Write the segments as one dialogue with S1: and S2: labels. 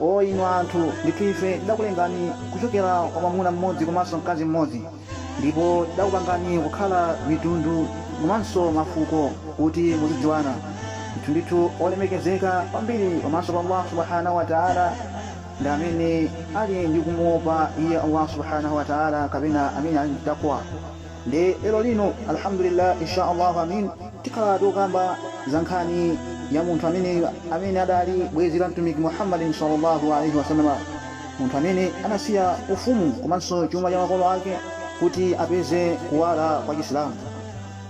S1: O inu anthu! Ndithu Ife tidakulengani kuchokera kwa mwamuna mmodzi komanso mkazi mmodzi ndipo tidakupangani kukhala mitundu komanso mafuko kuti muzidziwana. Ndithu-ndithu olemekezeka kwambiri pamaso pa Allahu subhanahu wa ta'ala ndi amene ali ndi kumuopa Iye Allahu subhanahu wa ta'ala kapena amene ali ndi taqwa. Nde lero lino Alhamdulillah insha Allah Ameen tikhala tikukamba za nkhani ya munthu ameneyu amene adali bwezi la Mtumiki Muhammadin sallallâhu alaihi wa sallama, munthu amene anasiya ufumu komanso chuma cha makolo ake kuti apeze kuwala kwa Chisilamu.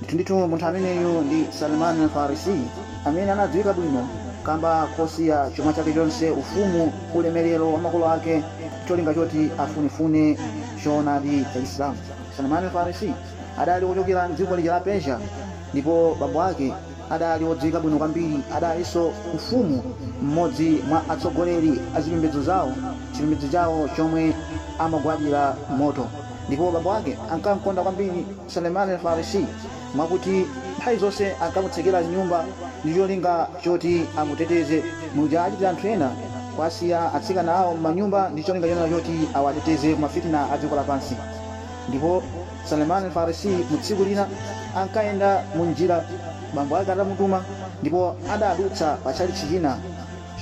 S1: Ndithu ndithu munthu ameneyu ndi Salman Al Farisiy amene anadziwika bwino kamba kosiya chuma chake chonse, ufumu, ulemelero wa makolo ake cholinga choti afunefune choonadi cha Chisilamu. Salman al-Farisi adali wochokera m'dziko lija la Persia ndipo bambo ake adali wodziwika bwino kwambiri. Adalinso mfumu m'modzi mwa atsogoleri a zipembedzo zawo, chipembedzo chawo chomwe amagwadira moto. Ndipo bambo ake ankam'konda kwambiri Salman al-Farisi. mwakuti nthawi zonse ankamutsekera m'nyumba ndi cholinga choti amuteteze, muja achitira anthu ena kuwasiya atsikana awo m'manyumba ndi cholinga chonena choti awateteze ku ma fitna a dziko lapansi. Ndipo Salman Al-Farisi mu tsiku lina ankayenda mu njira bambo ake atamutuma ndipo adadutsa pa tchalitchi china.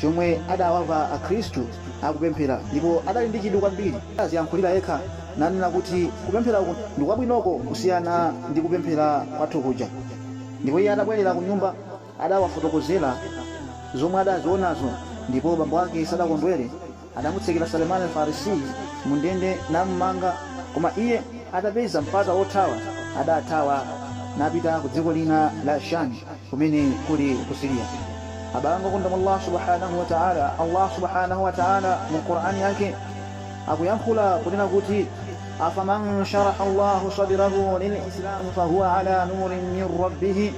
S1: chomwe adawamva akhristu akupemphera ndipo adali ndi chidwi kwambiri adaziyankhulira yekha nanena kuti kupemphera uku ndikwabwinoko kusiyana ndi kupemphera kwathu kuja ndipo iye atabwelera kunyumba adawafotokozera zomwe adazionazo ndipo bambo ake sadakondwere Adamutsekera Salman Al-Farisiy mu ndende namumanga, koma iye atapeza mpata wothawa adathawa napita ku dziko lina la Shami kumene kuli ku Syria. Abale anga okondedwa mwa Allah Subhaanah wa Ta'ala, Allah Subhaanah wa Ta'ala mu Qur'an Yake akuyankhula kunena kuti, Afaman sharaha Allahu sadrahu lil-Islam fahuwa ala nurin min Rabbih,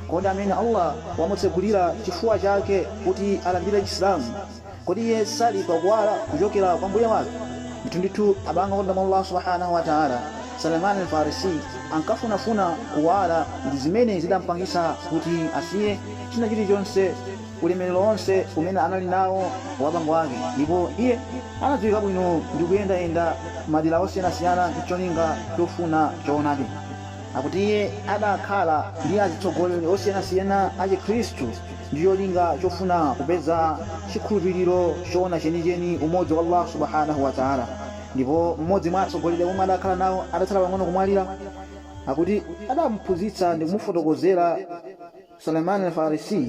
S1: Kodi amene Allah wamutsegulira chifuwa chake kuti alandire Chisilamu, Kodi iye sali pa kuwala kuchokera kwa Mbuye wake? Ndithundithu abale anga okondedwa mwa Allah Subhaanah wa Ta'ala, Salmaan Al-Faarisi ankafunafuna kuwala ndi zimene zidampangitsa kuti asiye china chilichonse ulemerero wonse umene anali nawo wa bambo ake ndipo iye anadziwika bwino ndi kuyendayenda madera osiyanasiyana ncholinga chofuna choonadi. Akuti iye adakhala ndi azitsogoleri osiyanasiyana a Chikhristu. ndi cholinga chofuna kupeza chikhulupiriro choona chenicheni, umodzi wa Allahu Subhanahu wa Ta'ala. Ndipo mmodzi mwa atsogoleri amene adakhala nawo atatsala pang'ono kumwalira, akuti adamuphunzitsa ndi kumufotokozera Salman Al-Farisiy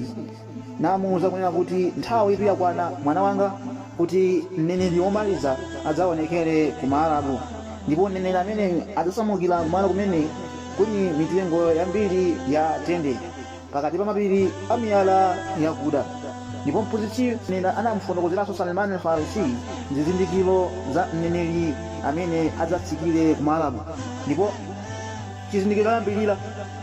S1: namuuza kunena kuti, Nthawitu yakwana, mwana wanga, kuti mneneri womaliza adzaonekere ku Maarabu. Ndipo mneneri ameneyu adzasamukira kumalo kumene kuli mitengo yambiri ya tende. pakati pa mapiri a miyala yakuda. Ndipo mphunzitsi yemweyu anamufotokozeranso Salman al-Farisi zizindikiro za mneneri amene adzatsikire ku Maarabu. Ndipo chizindikiro choyambirira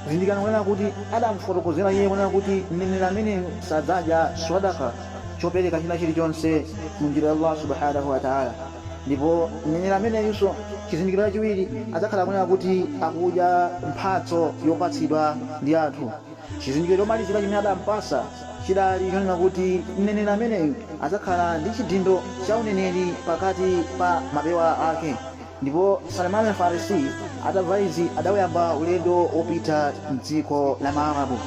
S1: zindikirani kunena kuti adamufotokozera iye kunena kuti mneneri ameneyu sadzadya swadaka chopereka china chilichonse mu njira ya Allah subhanahu wa ta'ala. Ndipo mneneri ameneyunso, chizindikiro chachiwiri, adzakhala kunena kuti akudya mphatso yopatsidwa ndi anthu. Chizindikiro chomalizira chimene adampatsa chidali chonena kuti mneneri ameneyu adzakhala ndi chidindo cha uneneri pakati pa mapewa ake. Ndipo Salman Al-Farisi atamva izi adawuyamba ulendo wopita m'dziko la Maarabu.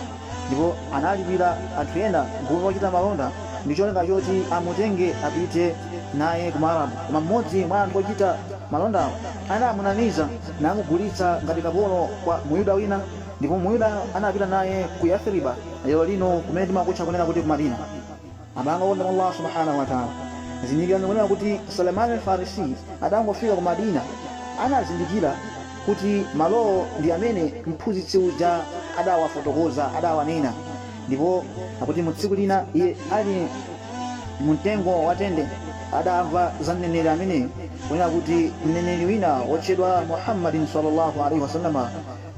S1: ndipo analipira anthu ena gulu lochita malonda ndi cholinga choti amutenge apite naye ku Maarabu. Koma mmodzi mwa anthu ochita malondawo anamunamiza namugulitsa ngati kapolo kwa Muyuda wina, ndipo Muyuda anapita naye ku Yathiriba, lero lino kumene timakutcha kunena kuti ku Madina. Abale anga okondedwa mwa Allah Subhaanah wa Ta'ala, zindikirani kunena kuti Salman Al-Farisiy atangofika ku Madinah anazindikira kuti malowo ndi amene mphunzitsi uja adawafotokoza, adawanena. Ndipo akuti mu tsiku lina iye ali mu mtengo wa tende adamva za Mneneri ameneyu kunena kuti Mneneri wina wotchedwa Muhammadin sallallâhu alaihi wa sallam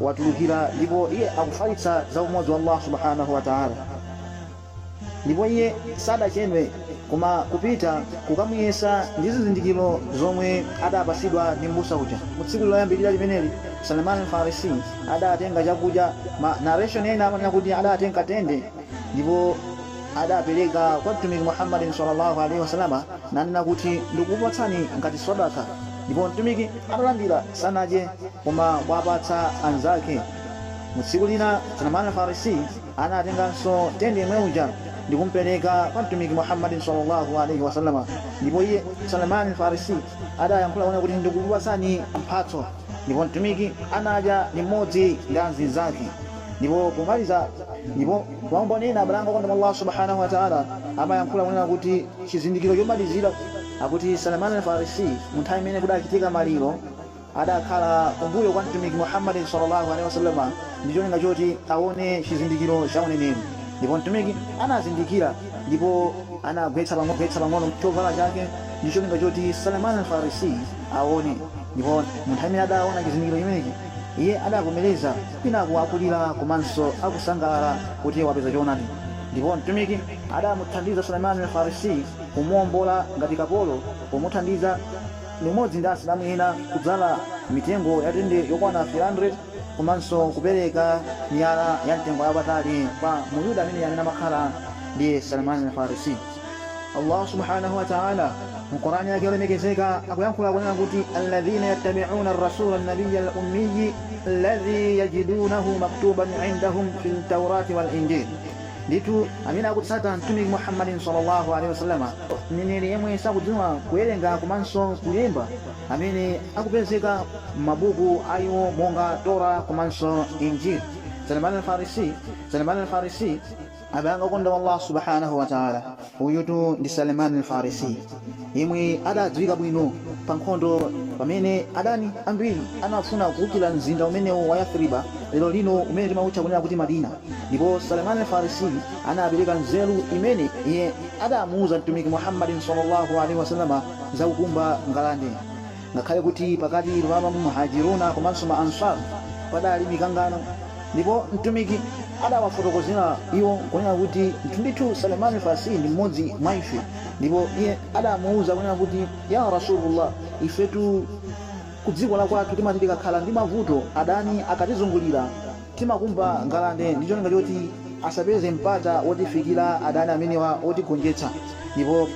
S1: watulukira ndipo iye akufalitsa za umodzi wa Allah Subhaanah wa Ta'ala. Ndipo iye sadachedwe koma kupita kukamuyesa ndi zizindikiro zomwe adapasidwa ndi m'busa uja. Mu tsiku loyambilira limeneli, Salman Al Farisi adatenga chakudya, ma narration ena amanena kuti adatenga tende, ndipo adapeleka kwa Mtumiki Muhammad sallallâhu alaihi wa sallam nanena kuti ndikukupatsani ngati swadaka, ndipo Mtumiki atalandira sanadye koma kuwapatsa anzake. Mu tsiku lina Salman Al Farisi. Anatenganso tende yemwe uja ndikumpereka kwa Mtumiki Muhammadin sallallâhu alaihi wa sallama, ndipo iye, Salman al-Farisiy, adayankhula kunena kuti, Ndikukupatsani mphatso. Ndipo Mtumiki anadya limodzi ndi amzinzake. Ndipo pomaliza ndipo maumboni ena abale anga okondedwa mwa Allah Subhana wa Ta'ala amayankhula kunena kuti chizindikiro chomalizira, akuti Salman al-Farisiy mu nthawi imene kudachitika maliro, adakhala kumbuyo kwa Mtumiki Muhammad salla Allah alaih wasallam ndicholinga choti aone chizindikiro cha uneneri, ndipo Mtumiki anazindikira ndipo anagwetsa pang'ono chovala chake ndicholinga choti Salman Al Farisiy aone, ndipo munthawi imene adaona chizindikiro chimenechi iye adavomereza kwinaku akulira komanso akusangalala kuti wapeza choonadi, ndipo Mtumiki adamuthandiza Salman Al Farisiy kumuombola ngati kapolo pomuthandiza, limodzi ndi Asilamu ena kudzala mitengo ya tende yokwana 300 komanso kupereka miyala ya mtengo yapatali kwa mu Yuda amene amene amakhala ndi Salman al-Farisi. Allah subhanahu wa ta'ala mu Qur'an yake yolemekezeka akuyankhula kunena kuti alladhina yattabi'una ar-rasula an-nabiyya al-ummiyyi alladhi yajidunahu maktuban 'indahum fil tawrati wal injil Ndithu amene akutsata Mtumiki Muhammadin salla Allah alaih wasallam, Mneneri yemwe sakudziwa kuwerenga komanso kulemba, amene akupezeka m'mabuku a iwo monga Torah komanso Injil. Salman Al-Farisiy, Salman Al-Farisiy. Abale anga okondedwa mwa Allah Subhaanah wa Ta'ala! Uyutu ndi Salman Al Farisi yemwe adadziwika bwino pa nkhondo pamene adani ambiri anafuna kuukila mzinda umenewu wa Yathriba lero lino umene timautcha kunena kuti Madina ndipo Salman Al Farisi anapeleka nzeru imene iye adamuuza Mtumiki Muhammadin sallallâhu alaihi wa sallam za kukumba ngalande Ngakhale kuti pakati pa ma Muhajiruna komanso ma Ansar padali mikangano, ndipo Mtumiki adawafotokozera iwo kunena kuti ndithu Salman al-Farsi ndi mmodzi mwa ife, ndipo iye adamuuza kunena kuti, Ya Rasulullah ifetu kudziko la kwathu timati tikakhala ndi mavuto adani akatizungulira timakumba ngalande ndi cholinga choti asapeze mpata wotifikira adani amenewa wotigonjetsa, ndipo.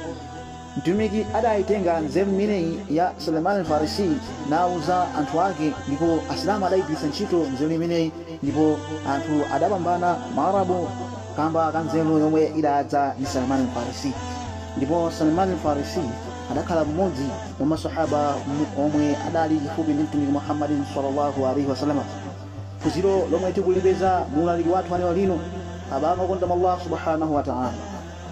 S1: Mtumiki adaitenga nzeru imeneyi ya Salman Al-Farisi nauza anthu ake ndipo Asilamu adaigwiritsa ntchito nzeru imeneyi ndipo anthu adapambana Maarabu kamba ka nzeru yomwe idadza ndi Salman Al-Farisi. Ndipo Salman Al-Farisi adakhala mmodzi mwa ma Swahaba omwe adali chifupi ndi Mtumiki Muhammad sallallâhu alaihi wa sallam. Phunziro lomwe tikulipeza mu ulaliki wathu wa lero lino, Abale okondedwa mwa Allah Subhânahu wa Ta'âlâ!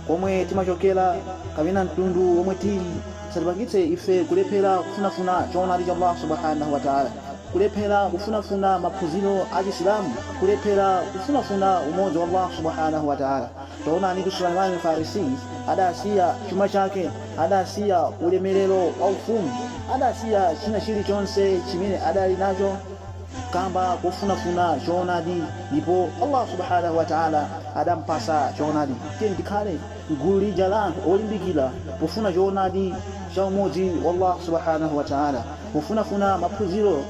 S1: komwe timachokera kapena mtundu womwe tili zisatipangitse ife kulephera kufunafuna choonadi cha Allah Subhaanah wa Ta'ala, kulephera kufunafuna maphunziro a Chisilamu, kulephera kufunafuna umodzi wa Allah Subhaanah wa Ta'ala. Taonanitu Salman Al-Faarisiy adasiya chuma chake, adasiya ulemelero wa ufumu, adasiya china chilichonse chimene adali nacho, kamba kofunafuna choonadi ndipo Allah Subhaanah wa Ta'ala adampatsa choonadi. Tiyeni tikhale m'gulu lija la anthu olimbikira pofuna choonadi cha umodzi wa Allah Subhaanah wa Ta'ala pofunafuna maphunziro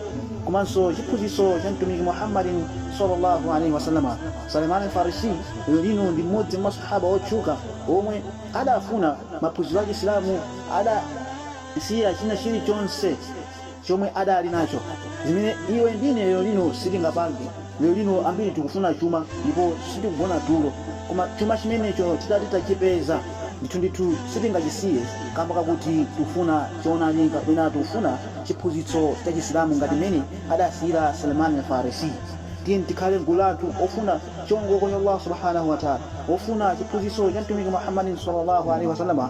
S1: komanso chiphunzitso cha Mtumiki Muhammadin sallallâhu alaihi wa sallam. Salman al-Farisi lero lino ndi m'modzi mwa maswahaba otchuka omwe adafuna maphunziro a Chisilamu adasiya china chilichonse. chomwe adali nacho, zimene iwe ndi ine lero lino sitingapange. Lero lino ambiri tikufuna chuma ndipo sitikugona tulo, koma chuma chimenecho titati tachipeza, ndithu ndithu sitingachisiye kamba kakuti tikufuna choonadi kapena tikufuna chiphunzitso cha Chisilamu ngati mmene adasiyira Salman Al Farisi. Tiyeni tikhale mgulu la anthu ofuna chiongoko cha Allah Subhana Watala, ofuna chiphunzitso cha Mtumiki Muhammadin Sallallahu Alayhi Wasallam.